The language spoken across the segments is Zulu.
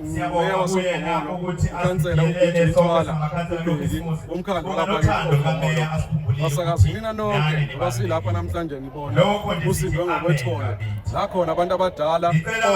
umeya wasokhomolo ukhansela ubeji mthwala ulondi umkhandlu kabakisokhomolo basakazi nina nonke basilapha namhlanje nibona usindwe ngokwethole la khona abantu abadala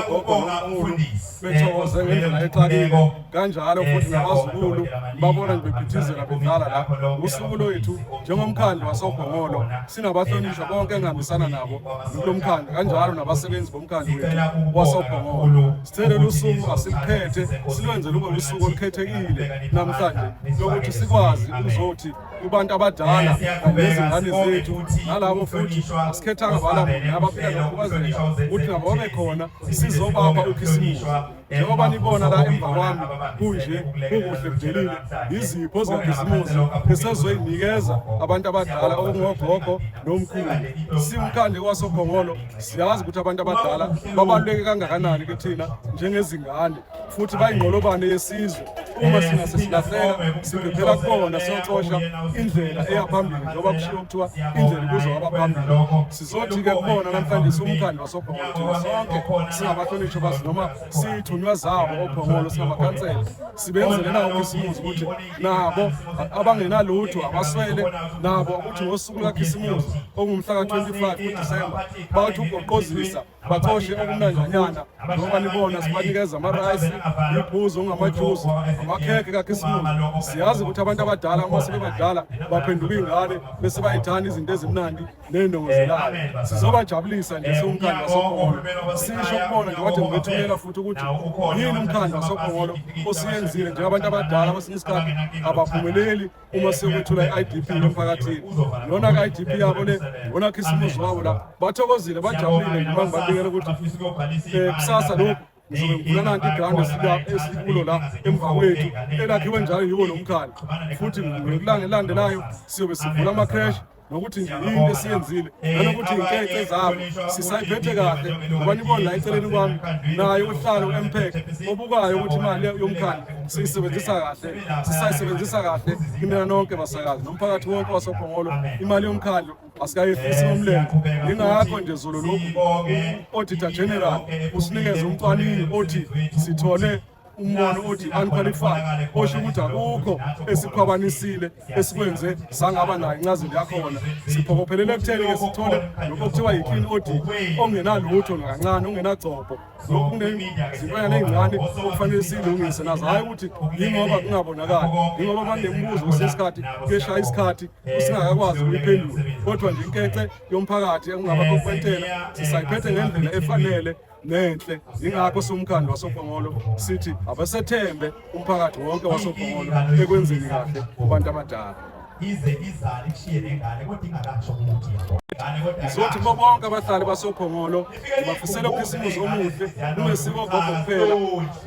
ogogo nomkhulu bethokoze ngendlela exakile kanjalo futhi nabazukulu babona ngibephithizela bedlala la usuku lwethu njengomkhandlu wasokhomolo sinabahlonishwa bonke engihambisana nabo kulo mkhandlu kanjalo nabasebenzi bomkhandlu wethu wasokhomolo Sicela lusuku asiliphethe silwenze lube lusuku olukhethekile namhlanje lokuthi sikwazi ukuzothi kubantu abadala nezingane zethu nalabo futhi asikhethanga bala muntu abaphila nokukhubazeka ukuthi nabo babe khona sizobapha ukhisimusi njengoba nibona la emva kwami kunje kukuhle kudelile yizipho zokhisimusi esezoyinikeza abantu abadala okungogogo nomkhulu simkhande kwasophongolo siyazi ukuthi abantu abadala babaluleke kangakanani kithina njengezingane futhi bayingqolobane yesizwe uma singase silahleka sibhebhela kubona siyocosha indlela eya phambili njengoba kushiwo kuthiwa indlela kuzo abaphambili sizothi-ke kubona namhlanje siwumkhandlu wasophongolo sonke singabahlonishwa bazi noma siyithunywa zabo ophongolo singamakhansela sibenzele nawo isimuzi ukuthi nabo abangenalutho abaswele nabo ukuthi ngosuku lwakhisimuzi okungumhla ka-25 kudisemba bathi ugoqozisa bacoshe okumnanjanyana ngoba nibona sibanikeza amarayisi imiphuzo ongamajuzi amakhekhe kakhisimuzi siyazi ukuthi abantu abadala uma sebebadala baphenduka iy'ngane bese bayithanda izinto ezimnandi ney'ndongozelayo sizobajabulisa nje siwumkhandlu wasophongolo sisho kubona nje kade ngibethumela futhi ukuthi yini umkhandlu wasophongolo osiyenzile njengabantu abadala kwesinye isikhathi abaphumeleli uma sekuthula i-idp emphakathini lona ka-idp yabo le wona khisimuzi wabo la bathokozile bajabulile ngiba ngibabikela ukuthi um kusasa lokhu nanti igrandi esikulo la emva kwethu elakhiwe njalo yiwo lo mkhandlu futhi ngekulanga elandelayo siyobe sivula ama-crash nokuthi nje yini esiyenzile nanokuthi inkece zabo sisayiphethe kahle ngoba nibona la eceleni kwami naye uhlala u-mpec obukayo ukuthi imali yomkhandi siyisebenzisa kahle sisayisebenzisa kahle kimina nonke masakazi nomphakathi wonke wasophongolo imali yomkhandlu asikayifisi ngomlenze yingakho nje zolo lokhu u-auditor general usinikeze umcwaningi othi sithole umbono othi unqualified osho ukuthi akukho esikhwabanisile esikwenze sangaba nayo incazelo yakhona siphokophelele ekutheni-ke sithole lokho kuthiwa yi-clean audit ongenalutho nakancane ongenagcobho lokhu kuney'ngane ey'ncane okufanele siyilungise nazo hhayi ukuthi yingoba kungabonakali yingoba banembuzo kusesikhathi kuyeshaya isikhathi usingakakwazi ukuyiphendula kodwa nje inkece yomphakathi ekungaba kokwentela sisayiphethe ngendlela efanele nenhle ingakho somkhandlu wasopongolo sithi abasethembe umphakathi wonke wasopongolo ekwenzeni kahle kubantu abadala ize izale ikushiye nengane kodwa ingakasho ukuthi yabo Sizothi kubo bonke abahlali basophongolo bafisela ukhisimusi omuhle unesiko gogo kuphela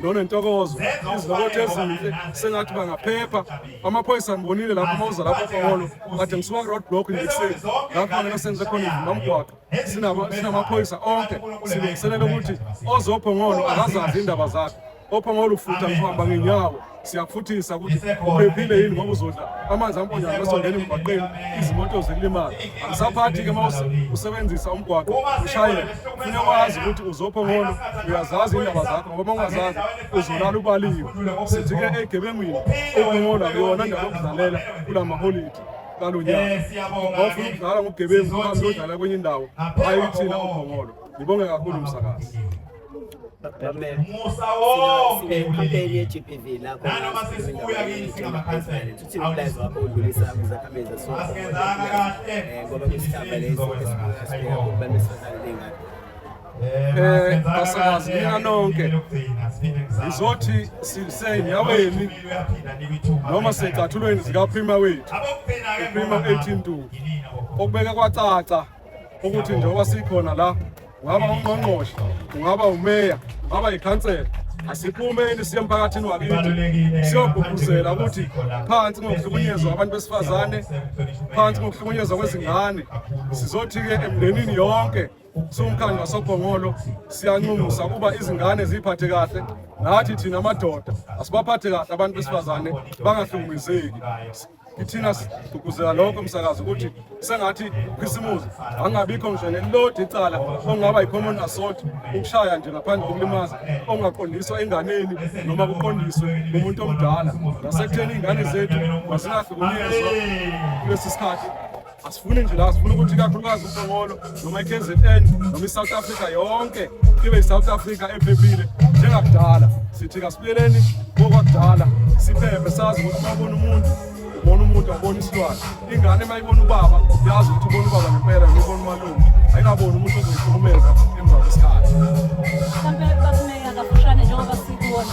nonentokozo izilokotho ezinhle sengathi bangaphepha amaphoyisa ngibonile lapho uma uza lapho phongolo kade ngisuka road block ngikuseni lapho ngeke senze khona izimamgwaqo sinamaphoyisa onke silungiselela ukuthi ozophongolo akazazi indaba zakhe Ophanga olufutha kuhamba ngenyawo siyakufuthisa ukuthi uphephile yini ngoba uzodla amanzi amponyayo masongena emgwaqeni izimoto zikulimala angisaphathi-ke uma usebenzisa umgwaqo ushayela fune wazi ukuthi uzopho ngono uyazazi indaba zakho ngoba uma ungazazi uzolala ubaliwe sithi-ke egebengwini okungola kuyona ndaba yokudlalela kula maholidi kalo nyaka eh, ofuna ukudlala ngobugebengu uhambe uyodlala kwenye indawo hayi thina ophongolo ngibonge kakhulu msakazi musa wonke nanoma sesibuya kini singamakhansela asingenzanga kahle basakazi nina nonke ngizothi sisenyaweni noma secathulweni zikaphima wethu uphima 18 ntu okubeke kwacaca ukuthi njengoba sikhona la ungaba ungqongqoshe ungaba umeya ungaba yikhansela asiphumeni siye emphakathini wakithi siyogqugquzela ukuthi phansi ngokuhlukunyezwa abantu besifazane phansi ngokuhlukunyezwa kwezingane sizothi-ke emndenini yonke siwumkhandlu wasophongolo siyanxumusa ukuba izingane ziyiphathe kahle nathi thina amadoda asibaphathe kahle abantu besifazane bangahlukumezeki Ithina sigqugquzela lonke umsakazo ukuthi sengathi ukhisimuzi angabikho ngisho nelilodi icala okungaba yi-common assault ukushaya nje ngaphandle kokulimaza okungaqondiswa enganeni noma kuqondiswe umuntu omdala nasekutheni iy'ngane zethu mazingahlukunyezwa kulesi sikhathi Asifuni nje la sifuna ukuthi kakhulukazi uMongolo noma iKZN noma iSouth Africa yonke ibe iSouth Africa ephephile njengakudala. Sithi kasibuyeleni kokwakudala siphephe sazi ukuthi mabona umuntu ubona umuntu abona isilwane. Ingane mayibona ubaba yazi ukuthi ubona ubaba ngempela ngibona umalume. Ayikabona umuntu ozoyihlukumeza emva kwesikhathi. Mhlambe bakumeya kafushane njengoba sikuwona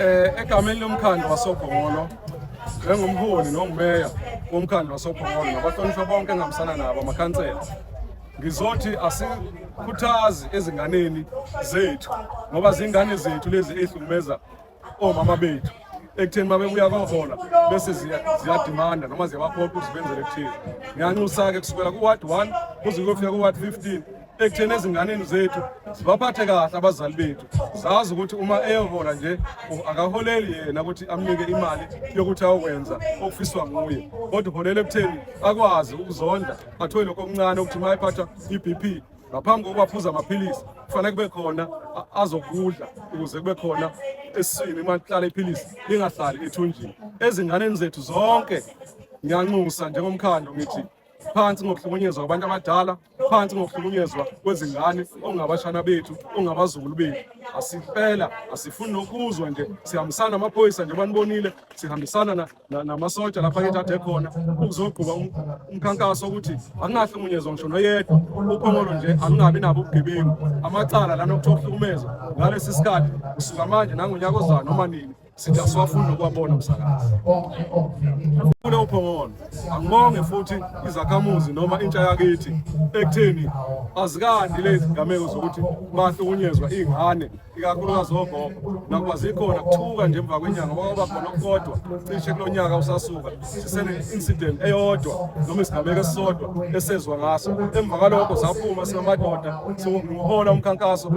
Eh egameni lomkhandlu wasoGongolo njengomholi nongumeya womkhandlu wasoGongolo nabahlonishwa bonke engihambisana nabo amakhansela ngizothi asikhuthazi ezinganeni zethu ngoba zingane zethu lezi ezihlumeza omama bethu ekutheni babebuya kohola bese ziyadimanda noma ziyabaphoqa ukuthi benzele kuthile ngiyanxusa-ke kusukela ku-ward one kuze kuyofika ku-ward fifteen ekutheni ezinganeni zethu sibaphathe kahle abazali bethu sazi ukuthi uma eyohola nje akaholeli yena ukuthi amnike imali yokuthi ayokwenza okufiswa nguye kodwa uholela ekutheni akwazi ukuzondla athole lokho okuncane ukuthi uma ephatha i-b p ngaphambi kokuba aphuza amaphilisi kufanele kube khona azokudla ukuze kube khona esiswini uma lihlala iphilisi lingahlali ethunjini ezinganeni zethu zonke ngiyanxusa njengomkhandlu ngithi phansi ngokuhlukunyezwa kwabantu abadala phansi ngokuhlukunyezwa kwezingane okungabashana bethu okungabazukulu bethu asifela asifuni nokuzwa nje sihambisana amaphoyisa nje banibonile sihambisana namasotsha lapha ethathe khona ukuzogquba um, umkhankaso ukuthi akungahlukunyezwa ngisho noyedwa uphongolo nje akungabi nabo ubugebengu amacala lana okuthiwa ukuhlukumeza ngalesi sikhathi kusuka manje nangonyaka ozayo noma nini Sitha siwafuna ukwabona umsakazi. Kule uphongolo angibonge futhi izakhamuzi noma intsha yakithi ekutheni azikandi lezi gameko zokuthi bahlukunyezwa ingane ikakhulukazi ogogo nakuba zikhona kuthuka nje emva kwenyanga kwaba khona okukodwa cishe kulo nyaka usasuka sisene-incident eyodwa noma isigameko esisodwa esezwa ngaso emva kwalokho saphuma singamadoda siwuhola umkhankaso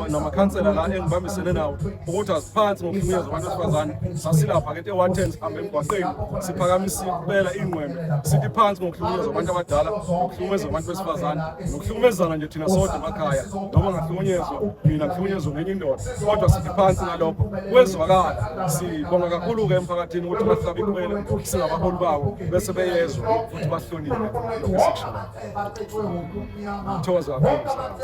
namakhansela la engibambisene nawo ukuthi aziphansi ngokuhlukunyezwa abantu besifazane sasilapha ke ewaten sihambe emgwaqeni siphakamise impela ingqwembe sithi phansi ngokuhlukunyezwa abantu abadala ngokuhlukumezwa abantu besifazane nokuhlukumezana nje thina sodwa emakhaya noma ngahlukunyezwa mina ngihlukunyezwa ngenye indoda kodwa sithi phansi ngalokho kwezwakala sibonga kakhulu-ke emphakathini ukuthi bahlabe ikhwele singabaholi bawo bese beyezwa futhi bahlonile lokhu esikushoyo thokoza kakhulu